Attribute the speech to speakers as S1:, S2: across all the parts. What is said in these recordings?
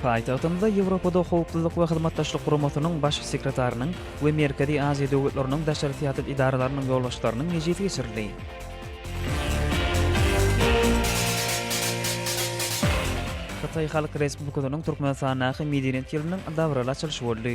S1: Paýtagtymyzda Ýewropada Howpsuzlyk we Hyzmatdaşlyk Guramasynyň Baş sekretarynyň we Merkezi Aziýa döwletleriniň daşary syýasat edaralarynyň ýolbaşçylarynyň mejlisi geçirildi. Hytaý Halk Respublikasynyň Türkmenistandaky medeniýet ýylynyň dabaraly açylyşy boldy.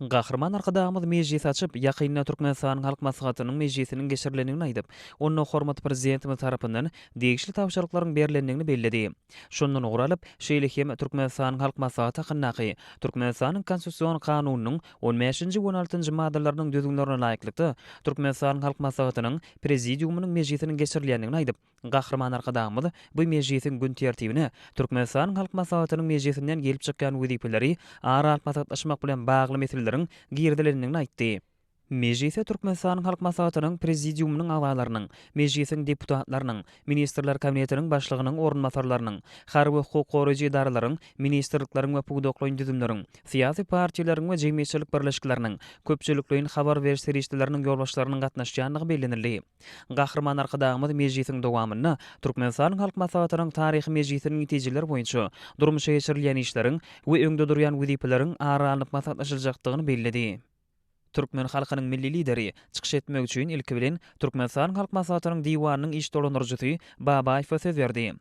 S1: Gahryman Arkadagymyz mejlis açyp, ýakynda Türkmenistanyň Halk Maslahatynyň mejlisiniň geçirilendigini aýdyp, onda hormatly Prezidentimiz tarapyndan degişli tabşyryklaryň berlendigini belledi. Şondan ugur alyp, şeýle hem Türkmenistanyň Halk Maslahaty hakyndaky Türkmenistanyň Konstitusion Kanunynyň on bäşinji we on altynjy maddalarynyň düzgünlerine laýyklykda Türkmenistanyň Halk Maslahatynyň Prezidiumynyň mejlisiniň geçirilýändigini aýdyp, Gahryman Arkadagymyz bu mejlisiň gün tertibine Türkmenistanyň Halk Maslahatynyň mejlisinden gelip çykýan wezipeleri ara alyp maslahatlaşmak bilen bagly meseleleriň girizilendigini aýtdy. Mejlise Türkmenistanyň Halk Maslahatynyň Prezidiumynyň agzalarynyň, Mejlisiň deputatlarynyň, Ministrler Kabinetiniň Başlygynyň orunbasarlarynyň, harby hukuk goraýjy edaralaryň, ministrlikleriň we pudaklaýyn düzümleriň, syýasy partiýalaryň we jemgyýetçilik birleşikleriniň, köpçülikleýin habar beriş serişdeleriniň ýolbaşçylarynyň gatnaşýandygy bellenildi. Gahryman Arkadagymyz mejlisiň dowamynda Türkmenistanyň Halk Maslahatynyň taryhy mejlisiniň netijeleri boýunça durmuşa geçirilýän işleriň we öňde durýan wezipeleriň ara alnyp maslahatlaşyljakdygyny belledi. Türkmen halkynyň Milli Lideri çykyş etmek üçin ilki bilen Türkmenistanyň Halk Maslahatynyň Diwanynyň iş dolandyryjysy Babaýewe söz berdi.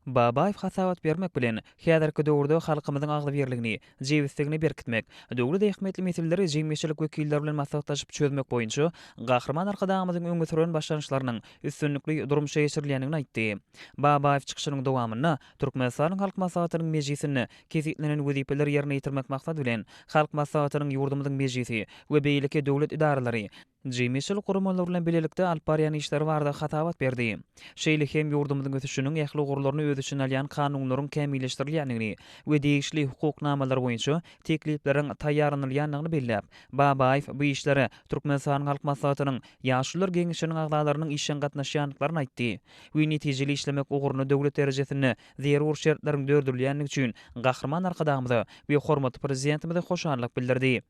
S1: Babaýew hasabat bermek bilen, häzirki döwürde halkymyzyň agzybirligini, jebisligini berkitmek, döwlet ähmiýetli meseleleri jemgyýetçilik wekilleri bilen maslahatlaşyp çözmek boýunça Gahryman Arkadagymyzyň öňe süren başlangyçlarynyň üstünlikli durmuşa geçirilýändigini aýtdy. Babaýew çykyşynyň dowamynda Türkmenistanyň Halk Maslahatynyň mejlisinde kesgitlenen wezipeleri ýerine ýetirmek maksady bilen, Halk Maslahatynyň, ýurdumyzyň Mejlisi we beýleki döwlet edaralary, jemgyýetçilik guramalary bilen bilelikde alyp barýan işleri barada hasabat berdi. Şeýle hem ýurdumyzyň ösüşiniň ähli ugurlaryny öz içine alýan kanunlaryň kämilleşdirilýändigini we degişli hukuk namalar boýunça teklipleriň taýýarlanylýandygyny belläp, Babaýew bu işlere Türkmenistanyň Halk Maslahatynyň Ýaşulular geňeşiniň agzalarynyň işjeň gatnaşýandyklaryny aýtdy we netijeli işlemek ugrunda döwlet derejesinde zerur şertleriň dördülýändigi üçin Gahryman Arkadagymyza we hormatly Prezidentimize hoşallyk bildirdi.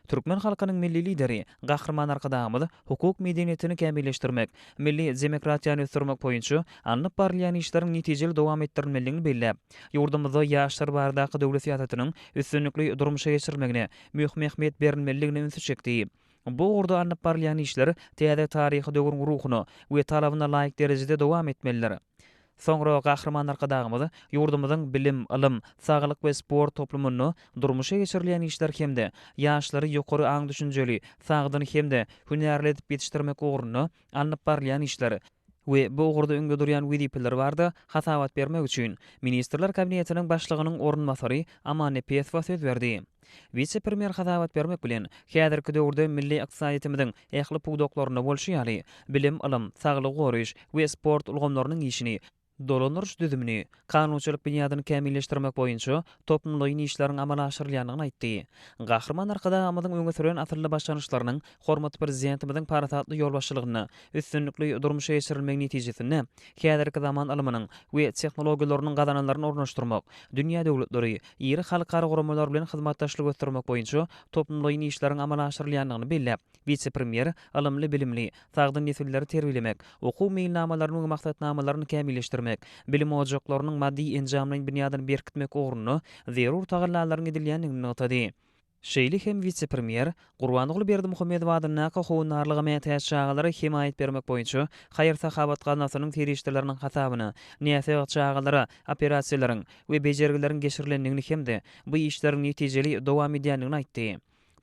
S1: Türkmen halkynyň Milli Lideri, Gahryman Arkadagymyz hukuk medeniýetini kämilleşdirmek, milli demokratiýany ösdürmek boýunça alnyp barylýan işleriň netijeli dowam etdirilmelidigini belläp, ýurdumyzda ýaşlar baradaky döwlet syýasatynyň üstünlikli durmuşa geçirilmegine möhüm ähmiýet berilmelidigine ünsi çekdi. Bu ugurda alnyp barylýan işler täze taryhy döwrüň ruhuna we talabyna laýyk derejede dowam etmelidir. Soňra Gahryman Arkadagymyz ýurdumyzyň bilim, ylym, saglyk we sport toplumynda durmuşa geçirilýän işler hem-de ýaşlary ýokary aň-düşünjeli, sagdyn hem-de hünärli edip ýetişdirmek ugrunda alnyp barylýan işler we bu ugurda öňde durýan wezipeler barada hasabat bermek üçin, Ministrler Kabinetiniň Başlygynyň orunbasary Aman Nepesowa söz berdi. Wise-premýer hasabat bermek bilen, häzirki döwürde milli ykdysadyýetimiziň ähli pudaklarynda bolşy ýaly, bilim, ylym, saglygy goraýyş we sport ulgamlarynyň işini, dolandyryş düzümini, kanunçylyk binýadyny kämilleşdirmek boýunça toplumlaýyn işleriň amala aşyrylýandygyny aýtdy. Gahryman Arkadagymyzyň öňe süren asylly başlangyçlarynyň hormatly Prezidentimiziň parasatly ýolbaşçylygynda üstünlikli durmuşa geçirilmegi netijesinde häzirki zaman ylmynyň we tehnologiýalarynyň gazananlaryny ornaşdyrmak, dünýä döwletleri, iri halkara guramalar bilen hyzmatdaşlygy ösdürmek boýunça toplumlaýyn işleriň amala aşyrylýandygyny belläp, wise-premýer ylymly-bilimli, sagdyn nesilleri terbiýelemek, okuw meýilnamalaryny we maksatnamalaryny kämilleşdirmek, bilim ojaklarynyň maddy-enjamlaýyn binýadyny berkitmek ugrunda zerur tagallalaryň edilýändigini nygtady. Şeýle hem wise-premýer Gurbanguly Berdimuhamedow adyndaky Howandarlyga mätäç çagalara hemaýat bermek boýunça haýyr-sahawat gaznasynyň serişdeleriniň hasabyna näsag çagalara operasiýalaryň we bejergileriň geçirilendigini hem-de bu işleriň netijeli dowam edýändigini aýtdy.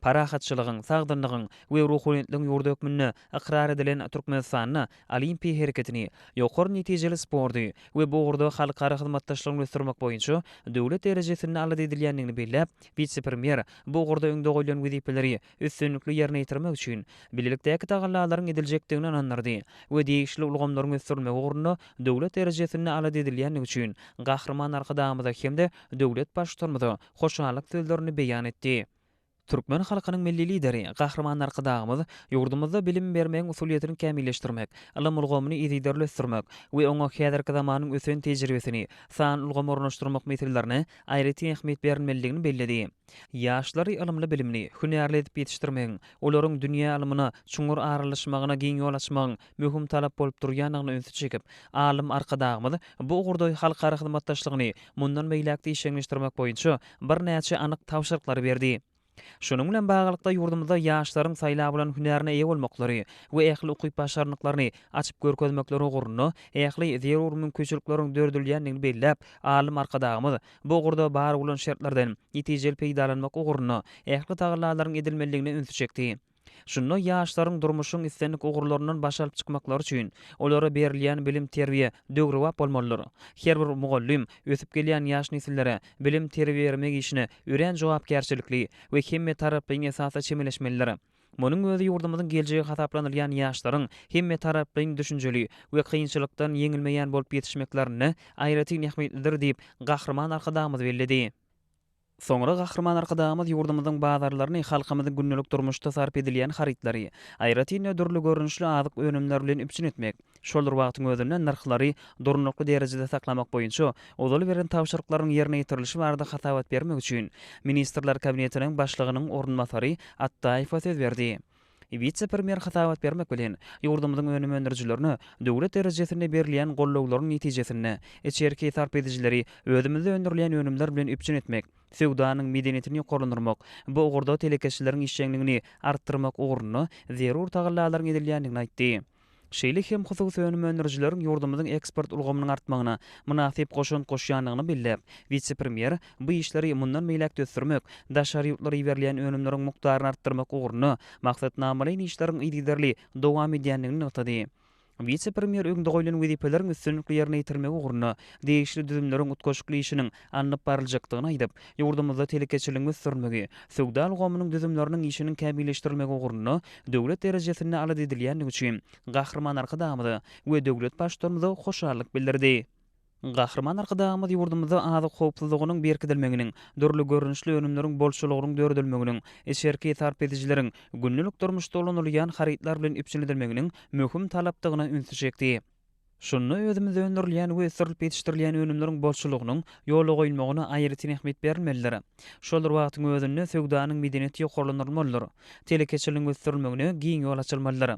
S1: Parahatçylygyň, sagdynlygyň we ruhubelentligiň ýurdy hökmünde ykrar edilen Türkmenistanda Olimpiýa hereketini, ýokary netijeli sporty we bu ugurda halkara hyzmatdaşlygyny ösdürmek boýunça döwlet derejesinde alada edilýändigini belläp, wise-premýer bu ugurda öňde goýlan wezipeleri üstünlikli ýerine ýetirmek üçin bilelikdäki tagallalaryň ediljekdigine ynandyrdy we degişli ulgamlaryň ösdürilmegi ugrunda döwlet derejesinde alada edilýändigi üçin Gahryman Arkadagymyza hem-de döwlet Baştutanymyza hoşallyk sözlerini beýan etdi. Türkmen halkynyň Milli Lideri Gahryman Arkadagymyz ýurdumyzda bilim bermegiň usulyýetini kämilleşdirmek, ylym ulgamyny yzygiderli ösdürmek we oňa häzirki zamanyň ösen tejribesini, sanly ulgamy ornaşdyrmak meselelerine aýratyn ähmiýet berilmelidigini belledi. Ýaşlary ylymly-bilimli, hünärli edip ýetişdirmegiň, olaryň dünýä ylmyna çuňňur aralaşmagyna giň ýol açmagyň, möhüm talap bolup durýandygyna ünsi çekip, alym Arkadagymyz bu ugurda halkara hyzmatdaşlygyny mundan beýläk-de işjeňleşdirmek boýunça birnäçe anyk tabşyryklary berdi. Şunuň bilen baglylykda, ýurdumyzda ýaşlaryň saýlap alan hünärine eýe bolmaklary we ähli ukyp-başarnyklaryny açyp görkezmekleri ugrunda ähli zerur mümkinçilikleriň döredilýändigini belläp, alym Arkadagymyz bu ugurda bar bolan şertlerden netijeli peýdalanmak ugrunda ähli tagallalaryň edilmelidigine ünsi çekdi. Şunda ýaşlaryň durmuşyň islendik ugurlaryndan baş alyp çykmaklary üçin olara berilýän bilim-terbiýe döwrebap bolmalydyr. Her bir mugallym ösüp gelýän ýaş nesillere bilim-terbiýe bermek işine örän jogapkärçilikli we hemmetaraplaýyn esasda çemeleşmelidir. Munuň özi ýurdumyzyň geljegi hasaplanylýan ýaşlaryň hemmetaraplaýyn düşünjeli we kynçylykdan ýeňilmeýän bolup ýetişmeklerinde aýratyn ähmiýetlidir diýip, Gahryman Arkadagymyz belledi. Soňra Gahryman Arkadagymyz ýurdumyzyň bazarlaryny, halkymyzyň gündelik durmuşda sarp edilýän harytlary, aýratyn-da dürli görnüşli azyk önümleri bilen üpjün etmek, şol bir wagtyň özünde nyrhlary durnukly derejede saklamak boýunça ozal beren tabşyryklarynyň ýerine ýetirilişi barada hasabat bermek üçin Ministrler Kabinetiniň Başlygynyň orunbasary Atdaýewa söz berdi. Wise-premýer hasabat bermek bilen, ýurdumyzyň önüm öndürijilerine döwlet derejesinde berilýän gollawlaryň netijesinde, içerki sarp edijileri özümizde öndürilýän önümler bilen üpjün etmek, söwdanyň medeniýetini ýokarlandyrmak, bu ugurda telekeçileriň işjeňligini artdyrmak ugrunda zerur tagallalaryň edilýändigini aýtdy. şeýle hem hususy önüm öndürijileriň ýurdumyzyň eksport ulgamynyň artmagyna mynasyp goşant goşýandygyny belläp, wise-premýer bu işleri mundan beýläk-de ösdürmek, daşary ýurtlara iberilýän önümleriň mukdaryny artdyrmak ugrunda maksatnamalaýyn işleriň yzygiderli dowam edýändigini nygtady. Wise-premýer öňde goýlan wezipeleriň üstünlikli ýerine ýetirilmegi ugrunda degişli düzümleriň utgaşykly işiniň alnyp baryljakdygyny aýdyp, ýurdumyzda telekeçiligiň ösdürilmegi, söwda ulgamynyň düzümleriniň işiniň kämilleşdirilmegi ugrunda döwlet derejesinde alada edilýändigi üçin Gahryman Arkadagymyza we döwlet Baştutanymyza hoşallyk bildirdi. Gahryman Arkadagymyz ýurdumyzda azyk howpsuzlygynyň berkidilmeginiň, dürli görnüşli önümleriň bolçulygynyň döredilmeginiň, içerki sarp edijileriň gündelik durmuşda ulanylýan harytlar bilen üpjün edilmeginiň möhüm talapdygyna ünsi çekdi. Şunda özümizde öndürilýän we ösdürilip ýetişdirilýän önümleriň bolçulygynyň ýola goýulmagyna aýratyn ähmiýet berilmelidir. Şol bir wagtyň özünde söwdanyň medeniýeti ýokarlandyrylmalydyr. Telekeçiligiň ösdürilmegine giň ýol açylmalydyr.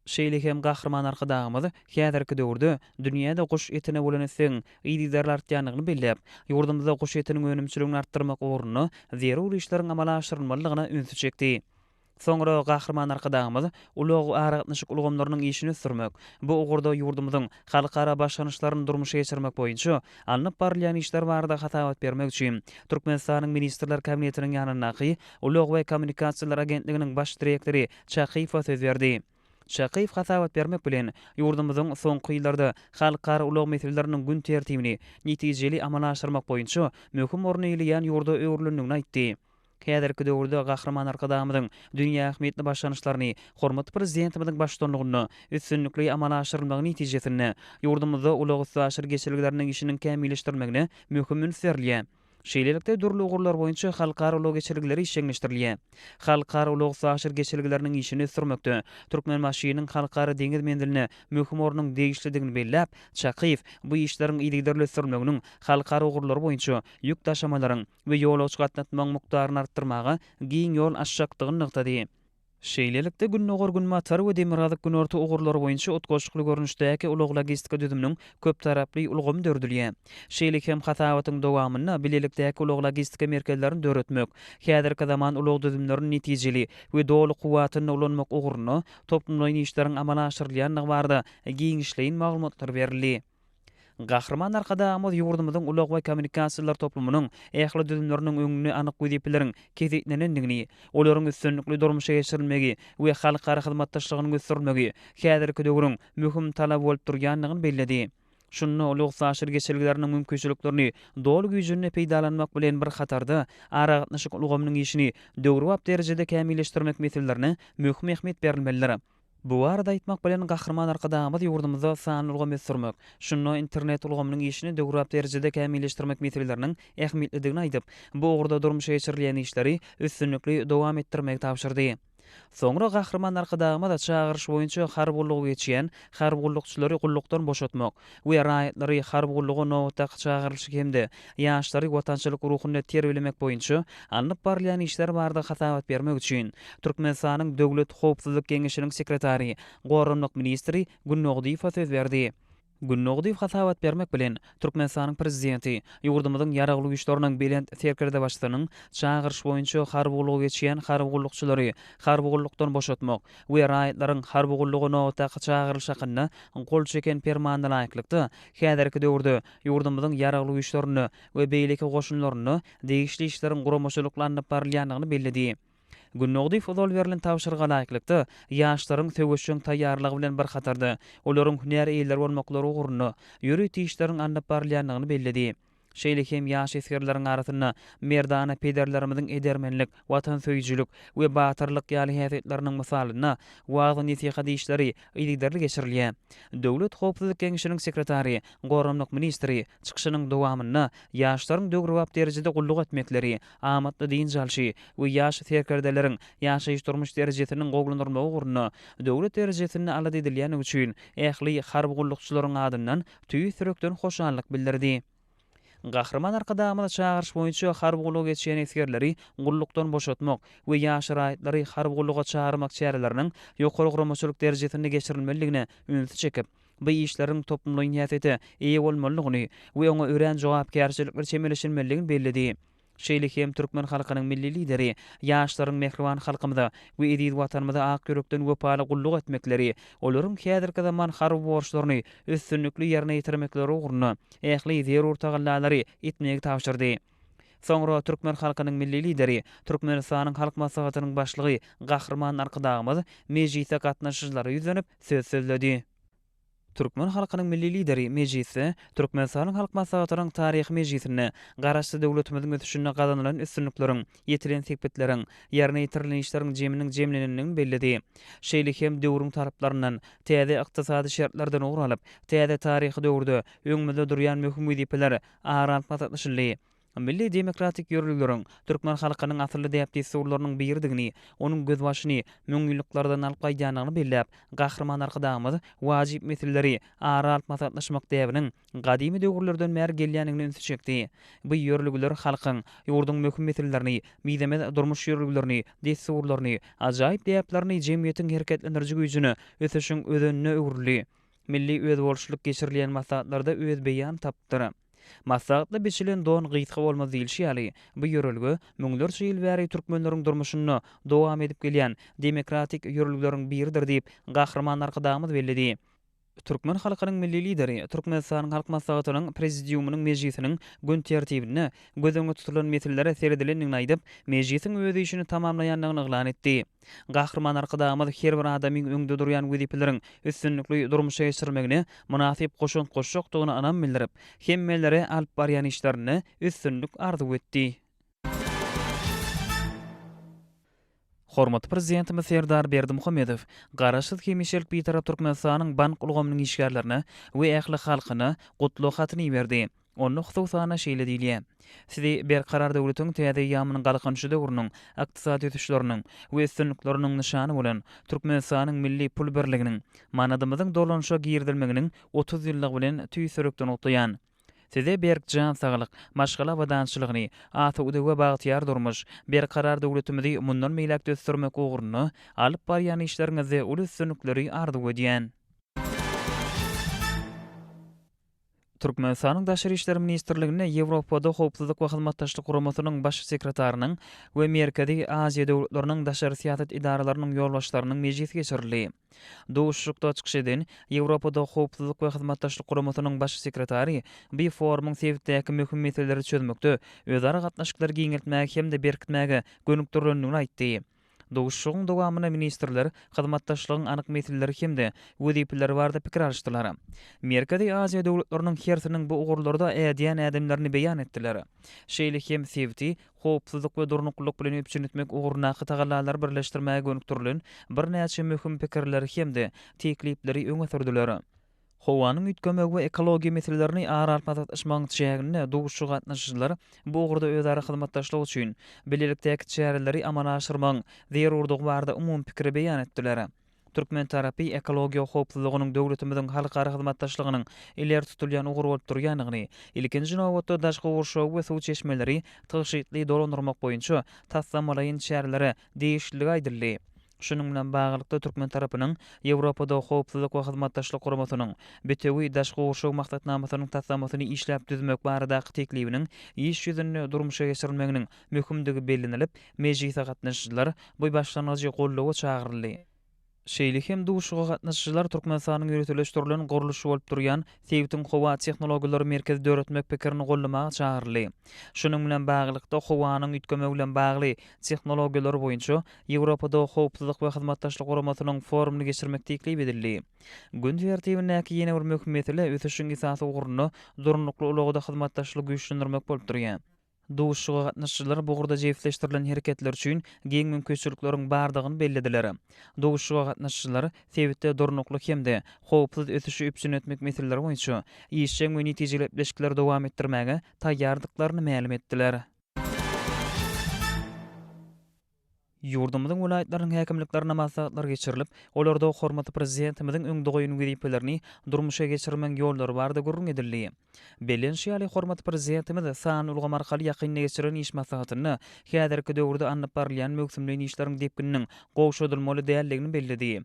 S1: Şeýle hem Gahryman Arkadagymyz häzirki döwürde dünýäde guş etine bolan islegiň yzygiderli artýandygyny belläp, ýurdumyzda guş etiniň önümçiligini artdyrmak ugrunda zerur işleriň amala aşyrylmalydygyna ünsi çekdi. Soňra Gahryman Arkadagymyz ulag-aragatnaşyk ulgamlarynyň işini ösdürmek, bu ugurda ýurdumyzyň halkara başlangyçlaryny durmuşa geçirmek boýunça alnyp barylýan işler barada hasabat bermek üçin Türkmenistanyň Ministrler Kabinetiniň ýanyndaky Ulag we kommunikasiýalar agentliginiň Baş direktory Çakyýewa söz berdi. Çakyýew hasabat bermek bilen, ýurdumyzyň soňky ýyllarda halkara ulag meseleleriniň gün tertibini netijeli amala aşyrmak boýunça möhüm orny eýleýän ýurda öwrülendigini aýtdy. Häzirki döwürde Gahryman Arkadagymyzyň dünýä ähmiýetli başlangyçlaryny hormatly Prezidentimiziň baştutanlygynda üstünlikli amala aşyrylmagy netijesinde, ýurdumyzda ulag-üstaşyr geçelgeleriniň işiniň kämilleşdirilmegine möhüm üns berilýär. Şeýlelikde, dürli ugurlar boýunça halkara ulag geçelgeleri işjeňleşdirilýär. Halkara ulag-üstaşyr geçelgeleriniň işini ösdürmekde Türkmenbaşynyň Halkara deňiz menziline möhüm ornuň degişlidigini belläp, Çakyýew bu işleriň yzygiderli ösdürilmeginiň halkara ugurlary boýunça ýük daşamalaryň we ýolagçy gatnatmagyň mukdaryny artdyrmaga giň ýol açjakdygyny nygtady. Şeýlelikde, Gündogar-Günbatar we Demirgazyk-Günorta ugurlary boýunça utgaşykly görnüşdäki ulag-logistika düzüminiň köptaraply ulgamy dördülýär. Şeýle hem hasabatyň dowamynda bilelikdäki ulag-logistika merkezlerini döretmek, häzirki zaman ulag düzümlerini netijeli we doly kuwwatynda ulanmak ugrunda toplumlaýyn işleriň amala aşyrylýandygy barada giňişleýin maglumatlar berildi. Gahryman Arkadagymyz ýurdumyzyň ulag we kommunikasiýalar toplumynyň ähli düzümleriniň öňünde anyk wezipeleriň kesgitlenendigini, olaryň üstünlikli durmuşa geçirilmegi we halkara hyzmatdaşlygynyň ösdürilmegi häzirki döwrüň möhüm talaby bolup durýandygyny belledi. Şunda ulag-üstaşyr geçelgeleriniň mümkinçiliklerini doly güýjünde peýdalanmak bilen bir hatarda, aragatnaşyk ulgamynyň işini döwrebap derejede kämilleşdirmek meselelerine möhüm ähmiýet berilmelidir. Bu barada aýtmak bilen, Gahryman Arkadagymyz ýurdumyzda sanly ulgamy ösdürmek, şunda internet ulgamynyň işini döwrebap derejede kämilleşdirmek meseleleriniň ähmiýetlidigini aýdyp, bu ugurda durmuşa geçirilýän işleri üstünlikli dowam etdirmegi tabşyrdy. Soňra Gahryman Arkadagymyz çagyryş boýunça harby gullugy geçýän harby gullukçylary gullukdan boşatmak, we raýatlary harby gulluga nobatdaky çagyrylyşy hem-de ýaşlary watançylyk ruhunda terbiýelemek boýunça alnyp barylýan işler barada hasabat bermek üçin Türkmenistanyň Döwlet howpsuzlyk geňeşiniň sekretary, goranmak ministri Gün Nogdyýewa söz berdi. Gün Nogdyýew hasabat bermek bilen, Türkmenistanyň Prezidenti ýurdumyzyň Ýaragly Güýçleriniň Belent Serkerdebaşysynyň çagyryşy boýunça harby gullugy geçýän harby gullukçylary harby gullukdan boşatmak, we raýatlaryň harby gulluga nobatdaky çagyrylyş hakynda gol çeken Permanyna laýyklykda, häzirki döwürde ýurdumyzyň Ýaragly Güýçlerinde we beýleki goşunlarynda degişli işleriň guramaçylykly alnyp barylýandygyny belledi. Günnogdyýew ozal berlen tabşyryga laýyklykda, ýaşlaryň söweşjeň taýýarlygy bilen bir hatarda, olaryň hünär eýeleri bolmaklary ugrunda ýörite işleriň alnyp barylýandygyny belledi. şeýle hem ýaş esgerleriň arasynda merdana pederlerimiziň edermenlik, watansöýüjilik we batyrlyk ýaly häsiýetleriniň mysalynda wagyz-nesihat işleri yzygiderli geçirilýär. Döwlet howpsuzlyk geňeşiniň sekretary, goranmak ministri çykyşynyň dowamynda ýaşlaryň döwrebap derejede gulluk etmekleri, amatly dynç alşy we ýaş serkerdeleriň ýaşaýyş-durmuş derejesiniň gowulandyrylmagy ugrunda döwlet derejesinde alada edilýändigi üçin ähli harby gullukçylaryň adyndan tüýs ýürekden hoşallyk bildirdi. Gahryman Arkadagymyz çagyryş boýunça harby gullugy geçýän esgerleri gullukdan boşatmak we ýaş raýatlary harby gulluga çagyrmak çäreleriniň ýokary guramaçylyk derejesinde geçirilmelidigine ünsi çekip, bu işleriň toplumlaýyn häsiýete eýe bolmalydygyny we oňa örän jogapkärçilikli çemeleşilmelidigini belledi. Şeýle hem türkmen halkynyň Milli Lideri ýaşlaryň mähriban halkymyza we eziz Watanymyza ak ýürekden wepaly gulluk etmekleri, olaryň häzirki zaman harby borçlaryny üstünlikli ýerine ýetirmekleri ugrunda ähli zerur tagallalary etmegi tabşyrdy. Soňra türkmen halkynyň Milli Lideri, Türkmenistanyň Halk Maslahatynyň Başlygy Gahryman Arkadagymyz mejlise gatnaşyjylara ýüzlenip, söz sözledi. Türkmen halkynyň Milli Lideri mejlisde Türkmenistanyň Halk Maslahatynyň taryhy mejlisinde Garaşsyz döwletimiziň ösüşinde gazanylan üstünlikleriň, ýetilen sepitleriň, ýerine ýetirilen işleriň jeminiň jemlenendigini belledi. Şeýle hem döwrüň talaplarynyň, täze ykdysady şertlerden ugur alyp, täze taryhy döwürde öňümizde durýan möhüm wezipeler ara alyp maslahatlaşyldy. Milli demokratik ýörelgeleriň türkmen halkynyň asylly däp-dessurlarynyň biridigini, onuň gözbaşyny müňýyllyklardan alyp gaýdýandygyny belläp, Gahryman Arkadagymyz wajyp meseleleri ara alyp maslahatlaşmak däbiniň gadymy döwürlerden bäri gelýändigine ünsi çekdi. Bu ýörelgeler halkyň, ýurduň möhüm meselelerini, mizemez durmuş ýörelgelerini, dessurlaryny, ajaýyp däplerini, jemgyýetiň hereketlendiriji güýjüni ösüşiň özenine öwrüldi. Milli özboluşlylyk geçirilýän maslahatlarda öz beýan tapypdyr. Maslahatda biçilen don gysga bolmaz diýlişi ýaly, bu ýörelge müňlerçe ýyl bäri türkmenleriň durmuşynda dowam edip gelýän demokratik ýörelgeleriň biridir diýip, Gahryman Arkadagymyz belledi. Türkmen halkynyň Milli Lideri Türkmenistanyň Halk Maslahatynyň Prezidiumynyň mejlisiniň gün tertibinde göz öňünde tutulan meselelere seredilendigini aýdyp, mejlisiň öz işini tamamlaýandygyny yglan etdi. Gahryman Arkadagymyz her bir adamyň öňde durýan wezipeleriň üstünlikli durmuşa geçirilmegine mynasyp goşant goşjakdygyna ynam bildirip, hemmelere alyp barýan işlerinde üstünlik arzuw etdi. Hormatly Prezidentimiz Serdar Berdimuhamedow Garaşsyz hemişelik Bitarap Türkmenistanyň bank ulgamynyň işgärlerine we ähli halkyna Gutlag hatyny iberdi. Onda hususan-a şeýle diýilýär, Sizi Berkarar döwletiň täze eýýamynyň Galkynyşy döwrüniň ykdysady ösüşleriniň we üstünlikleriniň nyşany bolan Türkmenistanyň milli pul birliginiň, manadymyzyň dolanyşa girizilmeginiň otuz ýyllygy bilen tüýs ýürekden gutlaýan. Size berk jan saglyk, maşgala abadançylygyny, asude we bagtyýar durmuş, Berkarar döwletimizi mundan beýläk-de ösdürmek ugrunda alyp barýan işleriňizde uly üstünlikleri arzuw edýän. Türkmenistanyň Daşary işler ministrliginde Ýewropada Howpsuzlyk we Hyzmatdaşlyk Guramasynyň Baş sekretarynyň we Merkezi Aziýa döwletleriniň daşary syýasat edaralarynyň ýolbaşçylarynyň mejlisi geçirildi. Duşuşykda çykyş eden Ýewropada Howpsuzlyk we Hyzmatdaşlyk Guramasynyň Baş sekretary bu forumyň sebitdäki möhüm meseleleri çözmekde özara gatnaşyklary giňeltmäge hem-de berkitmäge gönükdirilendigini aýtdy. Duşuşygyň dowamynda ministrler hyzmatdaşlygyň anyk meseleleri hem-de wezipeleri barada pikir alyşdylar. Merkezi Aziýa döwletleriniň hersiniň bu ugurlarda ädýän ädimlerini beýan etdiler. Şeýle hem sebiti howpsuzlyk we durnuklylyk bilen üpjün etmek ugrundaky tagallalary birleşdirmäge gönükdirilen birnäçe möhüm pikirleri hem-de teklipleri öňe sürdüler. Howanyň üýtgemegi we ekologiýa meselelerini ara alyp maslahatlaşmagyň çäginde duşuşyga gatnaşyjylar bu ugurda özara hyzmatdaşlyk üçin bilelikdäki çäreleri amala aşyrmagyň zerurdygy barada umumy pikiri beýan etdiler. Türkmen tarapy ekologiýa howpsuzlygynyň döwletimiziň halkara hyzmatdaşlygynyň ileri tutulýan ugry bolup durýandygyny, ilkinji nobatda daşky gurşawy we suw çeşmeleri tygşytly dolandyrmak boýunça taslamalaýyn çärelere degişlidigi aýdyldy. Şunuň bilen baglylykda, türkmen tarapynyň Ýewropada Howpsuzlyk we Hyzmatdaşlyk Guramasynyň Bitewi daşky gurşaw maksatnamasynyň taslamasyny işläp düzmek baradaky teklibiniň iş ýüzünde durmuşa geçirilmeginiň möhümdigi bellenilip, mejlise gatnaşyjylar bu başlangyjy goldawa çagyryldy. Şeýle hem duşuşyga gatnaşyjylar Türkmenistanyň ýöriteleşdirilen gurluşy bolup durýan sebitiň howa tehnologiýalary merkezi döretmek pikirini goldamaga çagyryldy. Şunuň bilen baglylykda, howanyň üýtgemegi bilen bagly tehnologiýalary boýunça Ýewropada Howpsuzlyk we Hyzmatdaşlyk Guramasynyň forumyny geçirmek teklip edildi. Gün tertibindäki ýene bir möhüm mesele ösüşiň esasy ugrunda durnukly ulagda hyzmatdaşlygy güýçlendirmek bolup durýar. Duşuşyga gatnaşyjylar bu ugurda jebisleşdirilen hereketler üçin giň mümkinçilikleriň bardygyny bellediler. Duşuşyga gatnaşyjylar sebitde durnukly hem-de howpsuz ösüşi üpjün etmek meseleleri boýunça işjeň we netijeli gepleşikleri dowam etdirmäge taýýardyklaryny mälim etdiler. Ýurdumyzyň welaýatlarynyň häkimliklerinde maslahatlar geçirilip, olarda hormatly Prezidentimiziň öňde goýan wezipelerini durmuşa geçirmegiň ýollary barada gürrüň edildi. Bellenişi ýaly, hormatly Prezidentimiz sanly ulgam arkaly ýakynda geçirilen iş maslahatynda häzirki döwürde alnyp barylýan möwsümleýin işleriň depgininiň gowşadylmaly däldigini belledi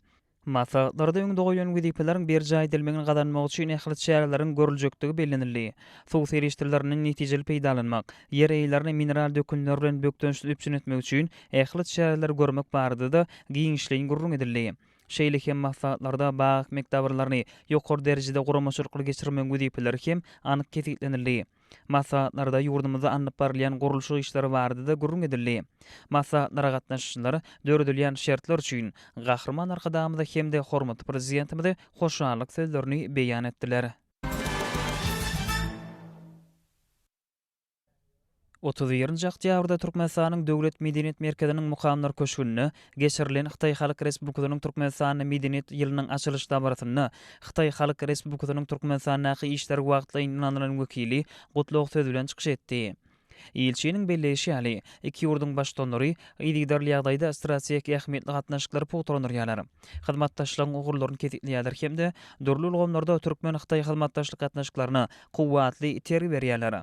S1: Maslahatlarda öňde goýlan wezipeleriň berjaý edilmegini gazanmak üçin ähli çäreleriň görüljekdigi bellenildi. Suw serişdelerini netijeli peýdalanmak, ýer eýlerini mineral dökünler bilen bökdençsiz üpjün etmek üçin ähli çäreleri görmek barada-da giňişleýin gürrüň edildi. Şeýle hem maslahatlarda bag ekmek dabaralarny ýokary derejede guramaçylykly geçirmegiň wezipeleri hem anyk kesgitlenildi. Maslahatlarda ýurdumyzda alnyp barylýan gurluşyk işleri barada-da gürrüň edildi. Maslahatlara gatnaşyjylar döredilýän şertler üçin Gahryman Arkadagymyza hem-de hormatly Prezidentimize hoşallyk sözlerini beýan etdiler. Otuz birinji oktýabrda Türkmenistanyň Döwlet medeniýet merkeziniň Mukamlar köşgünde geçirilen Hytaý Halk Respublikasynyň Türkmenistanda Medeniýet ýylynyň açylyş dabarasynda Hytaý Halk Respublikasynyň Türkmenistandaky işleri wagtlaýyn ýunanlylaryň wekili gutlag sözi bilen çykyş etdi. Ilçiniň belleýşi ýaly, iki ýurduň Baştutanlary yzygiderli ýagdaýda strategik ähmiýetli gatnaşyklary pugtalandyrýarlar, hyzmatdaşlygyň ugurlaryny kesgitleýärler hem-de dürli ulgamlarda türkmen-hytaý hyzmatdaşlyk gatnaşyklaryna kuwwatly itergi berýärler.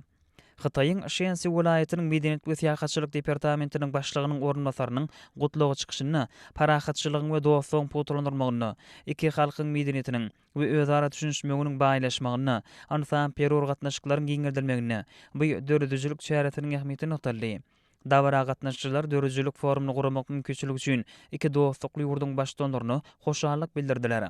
S1: Hytaýyň Şensi welaýatynyň Medeniýet we syýahatçylyk departamentiniň başlygynyň orunbasarynyň gutlag çykyşynda parahatçylygyň we dostlugyň pugtalandyrylmagynda, iki halkyň medeniýetiniň we özara düşünişmeginiň baýlaşmagynda, ynsan-perwer gatnaşyklaryň giňeldilmeginde bu döredijilik çäresiniň ähmiýeti nygtaldy. Dabara gatnaşyjylar döredijilik forumyny guramak mümkinçiligi üçin iki dostlukly ýurduň Baştutanlaryna hoşallyk bildirdiler.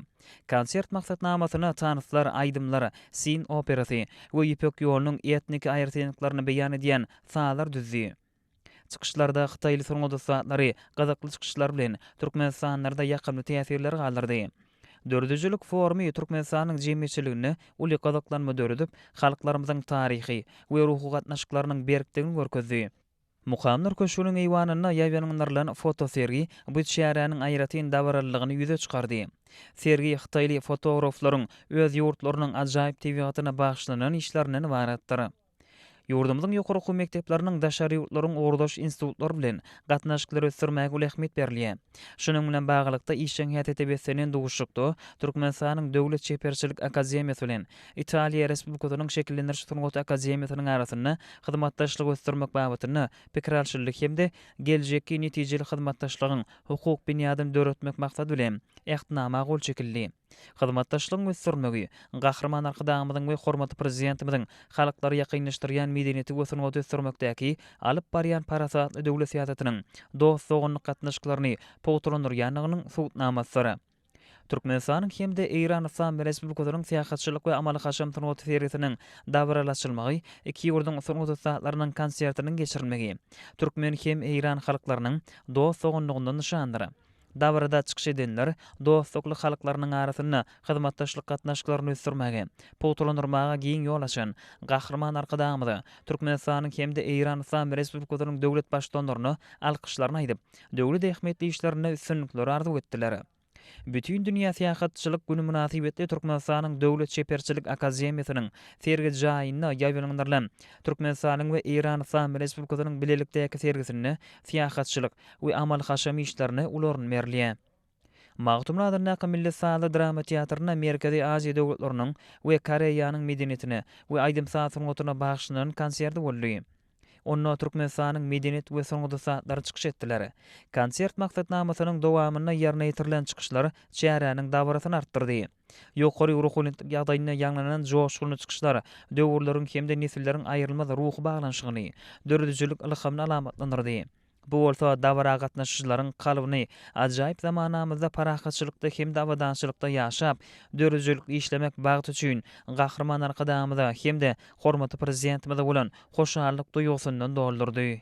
S1: Konsert maksatnamasyna tanslar, aýdymlar, Sin operasy we Ýüpek ýolunyň etniki aýratynlyklaryny beýan edýän sazlar düzdi. Çykyşlarda hytaýly sungat ussatlary gyzykly çykyşlar bilen Türkmenistanlarda ýakymly täsirler galdyrdy. Döredijilik forumy Türkmenistanyň jemgyýetçiliginde uly gyzyklanma döredip, halklarymyzyň taryhy we ruhy gatnaşyklarynyň berkdigini görkezdi. Mukamlar köşgüniň eýwanynda ýaýbaňlandyrylan fotosergi bu çäräniň aýratyn dabaralylygyny ýüze çykardy. Sergi hytaýly fotograflaryň öz ýurtlarynyň ajaýyp tebigatyna bagyşlanan işlerinden ybaratdyr. Ýurdumyzyň ýokary okuw mekdepleriniň daşary ýurtlaryň ugurdaş institutlary bilen gatnaşyklary ösdürmäge uly ähmiýet berilýär. Şunuň bilen baglylykda, işjeň häsiýete beslenen duşuşykda Türkmenistanyň Döwlet çeperçilik akademiýasy bilen Italiýa Respublikasynyň Şekillendiriş sungaty akademiýasynyň arasynda hyzmatdaşlygy ösdürmek babatynda pikir alşyldy hem-de geljekki netijeli hyzmatdaşlygyň hukuk binýadyny döretmek maksady bilen Ähtnama gol çekildi. Hyzmatdaşlygyň ösdürilmegi, Gahryman Arkadagymyzyň we hormatly Prezidentimiziň halklary ýakynlaşdyrýan medeniýeti we sungaty ösdürmekdäki alyp barýan parasatly döwlet syýasatynyň dost-doganlyk gatnaşyklaryny pugtalandyrýandygynyň subutnamasydyr. Türkmenistanyň hem-de Eýran Yslam Respublikasynyň syýahatçylyk we amaly-haşam sungaty sergisiniň dabaraly açylmagy, iki ýurduň sungat ussatlarynyň konsertiniň geçirilmegi türkmen hem eýran halklarynyň dost-doganlygyndan nyşandyr. Dabarada çykyş edenler dostlukly halklarynyň arasynda hyzmatdaşlyk gatnaşyklaryny ösdürmäge, pugtalandyrmaga giň ýol açan Gahryman Arkadagymyza, Türkmenistanyň hem-de Eýran Yslam Respublikasynyň döwlet Baştutanlaryna alkyşlaryny aýdyp, döwlet ähmiýetli işlerinde üstünlikleri arzuw etdiler. Bütindünýä syýahatçylyk güni mynasybetli Türkmenistanyň Döwlet çeperçilik akademiýasynyň sergi jaýynda ýaýbaňlandyrylan Türkmenistanyň we Eýran Yslam Respublikasynyň bilelikdäki sergisinde syýahatçylyk, we amal-haşam işlerine uly orun berilýär. Magtymguly adyndaky milli sazly drama teatrynda Merkezi Aziýa döwletleriniň we Koreýanyň medeniýetine we aýdym-saz sungatyna bagyşlanan konsert boldy. Onda Türkmenistanyň medeniýet we sungat ussatlary çykyş etdiler. Konsert maksatnamasynyň dowamynda ýerine ýetirilen çykyşlar çäräniň dabarasyny artdyrdy. Ýokary ruhubelentlik ýagdaýynda ýaňlanan joşgunly çykyşlar döwürleriň hem-de nesilleriň aýrylmaz ruhy baglanyşygyny, döredijilik ylhamyny alamatlandyrdy. Bu bolsa dabara gatnaşyjylaryň kalbyny ajaýyp zamanamyzda parahatçylykda hem-de abadançylykda ýaşap, döredijilikli işlemek bagty üçin Gahryman Arkadagymyza hem-de hormatly Prezidentimize bolan hoşallyk duýgusyndan doldurdy.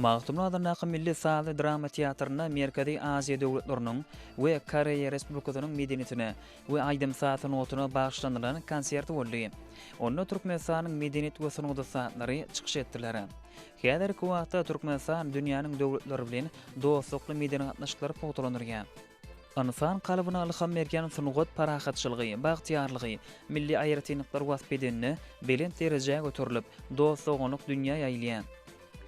S1: Magtymguly adyndaky milli sazly drama teatrynda Merkezi Aziýa döwletleriniň we Koreýa Respublikasynyň medeniýetine we aýdym-saz sungatyna bagyşlanylan konsert boldy. Onda Türkmenistanyň medeniýet we sungat ussatlary çykyş etdiler. Häzirki wagtda Türkmenistan dünýäniň döwletleri bilen dostlukly medeni gatnaşyklary pugtalandyrýar. Ynsan kalbyna ylham berýän sungat parahatçylygy, bagtyýarlygy, milli aýratynlyklary wasp edende, belent derejä göterilip, dost-doganlyk dünýä ýaýylýar.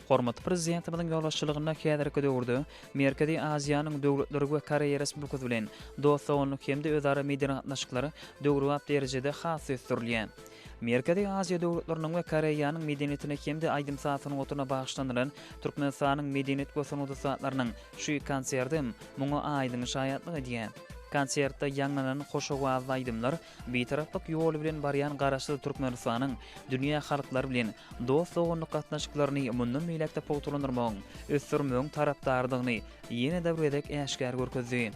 S1: Hormatly Prezidentimiziň ýolbaşçylygynda häzirki döwürde Merkezi Aziýanyň döwletleri we Koreýa Respublikasy bilen dost-doganlyk hem-de özara medeni gatnaşyklar döwrebap derejede has ösdürilýär. Merkezi Aziýa döwletleriniň we Koreýanyň medeniýetine hem-de aýdym-saz sungatyna bagyşlanylan Türkmenistanyň medeniýet we sungat ussatlarynyň şu konserti muňa aýdyň şaýatlyk edýär. Konsertde ýaňlanan hoş owazly aýdymlar Bitaraplyk ýoly bilen barýan Garaşsyz Türkmenistanyň dünýä halklary bilen dost-doganlyk gatnaşyklaryny mundan beýläk-de pugtalandyrmagyň, ösdürmegiň tarapdarydygyny ýene-de bir gezek äşgär görkezdi.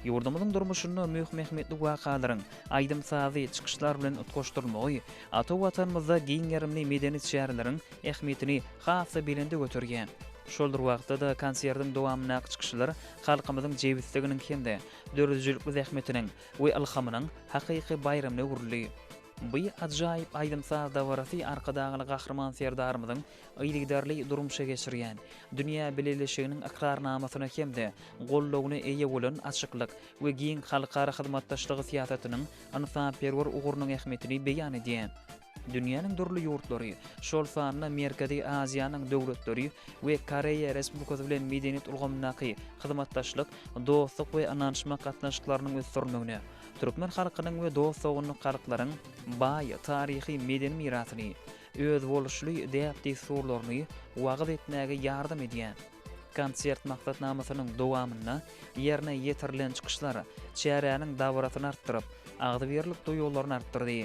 S1: Ýurdumyzyň durmuşynda möhüm-ähmiýetli wakalaryň, aýdym-sazy, çykyşlar bilen utgaşdyrylmagy ata Watanymyzda giň gerimli medeni çäreleriň ähmiýetini has-da belende göterýär. Şol bir wagtda-da konsertiň dowamyndaky çykyşlar halkymyzyň jebisliginiň hem-de döredijilikli zähmetiniň we ylhamynyň hakyky baýramyna öwrüldi. Bu ajaýyp aýdym-saz dabarasy Arkadagly Gahryman Serdarymyzyň yzygiderli durmuşa geçirýän, dünýä bileleşiginiň ykrarnamasyna hem-de goldawyna eýe bolan açyklyk we giň halkara hyzmatdaşlygy syýasatynyň ynsanperwer ugrunyň ähmiýetini beýan edýär. Dünýäniň dürli ýurtlary, şol sanda Merkezi Aziýanyň döwletleri we Koreýa Respublikasy bilen medeniýet ulgamyndaky hyzmatdaşlyk, dostluk we ynanyşmak gatnaşyklarynyň ösdürilmegine, türkmen halkynyň we dost-doganlyk halklaryň baý taryhy-medeni mirasyny, özboluşly däp-dessurlaryny wagyz etmäge ýardam edýär. Konsert maksatnamasynyň dowamynda ýerine ýetirilen çykyşlar çäräniň dabarasyny artdyryp, agzybirlik duýgularyny artdyrdy.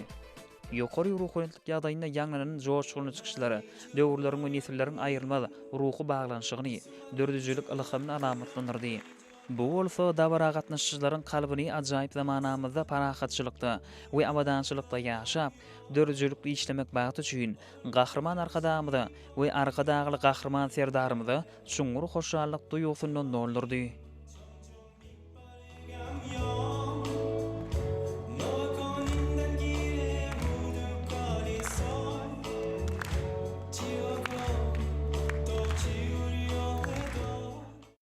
S1: Ýokary ruhubelentlik ýagdaýynda ýaňlanan joşgunly çykyşlar döwürleriň we nesilleriň aýrylmaz ruhy baglanyşygyny, döredijilik ylhamyny alamatlandyrdy. Bu bolsa dabara gatnaşyjylaryň kalbyny ajaýyp zamanamyzda parahatçylykda we abadançylykda ýaşap, döredijilikli işlemek bagty üçin Gahryman Arkadagymyza we Arkadagly Gahryman Serdarymyza çuňňur hoşallyk duýgusyndan doldurdy.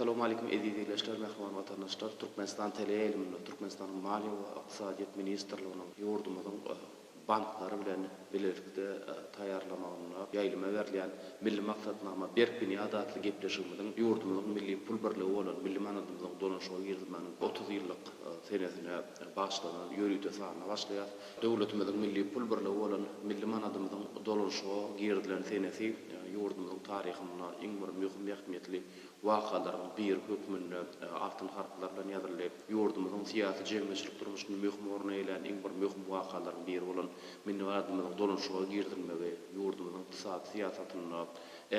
S2: Salowmalikim eziz ildeşler, mähriban watandaşlar! Türkmenistan teleýaýlymynda Türkmenistanyň Maliýe we ykdysadyýet ministrliginiň ýurdumyzyň banklary bilen bilelikde taýýarlamagynda ýaýlyma berilýän Milli maksatnama, berk binýat atly gepleşigimiziň ýurdumyzyň milli pul birligi bolan milli manadymyzyň dolanyşyga girizmeginiň otuz ýyllyk senesine bagyşlanan ýörite sanyna başlaýar. Döwletimiziň milli pul birligi bolan milli manadymyzyň dolanyşyga girizilen senesi ýurdumyzyň taryhynda iň bir möhüm ähmiýetli wakalaryň biri hökmünde altyn harplar bilen ýazyldy. Ýurdumyzyň syýasy-jemgyýetçilik durmuşynda möhüm orun eýelän iň bir möhüm wakalaryň biri bolan milli gadymyzyň dolanyşyga girizilmegi ýurdumyzyň ykdysady syýasatynda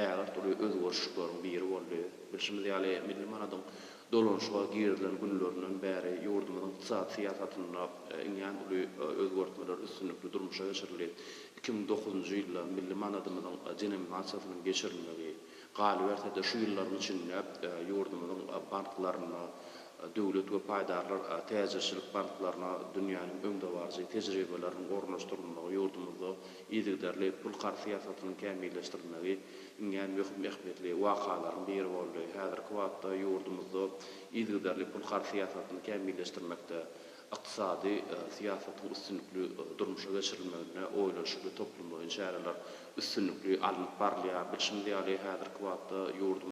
S2: ägirt uly özgerişikleriň biri boldy. Bilşimiz ýaly, milli manadyň dolanyşyga girizilen günlerinden bäri ýurdumyzyň ykdysady syýasatynda iňňän uly özgertmeler üstünlikli durmuşa geçirildi. Iki müň dokuzynjy ýylda milli manadymyzyň denominasiýasynyň geçirilmegi, Galyberse-de, şu ýyllaryň içinde ýurdumyzyň banklarynda döwlet we paýdarlar täjirçilik banklaryna dünýäniň öňdebaryjy tejribeleriniň ornaşdyrylmagy, ýurdumyzda yzygiderli pul karz syýasatynyň kämilleşdirilmegi iňňän möhüm ähmiýetli wakalaryň biri boldy. Häzirki wagtda ýurdumyzda yzygiderli pul karz syýasatyny kämilleşdirmekde, Ykdysady syýasatyň üstünlikli durmuşa geçirilmeginde oýlanyşykly toplumlaýyn çäreler üstünlikli alnyp barylýar. Bilşimiz ýaly, häzirki wagtda ýurdumyz.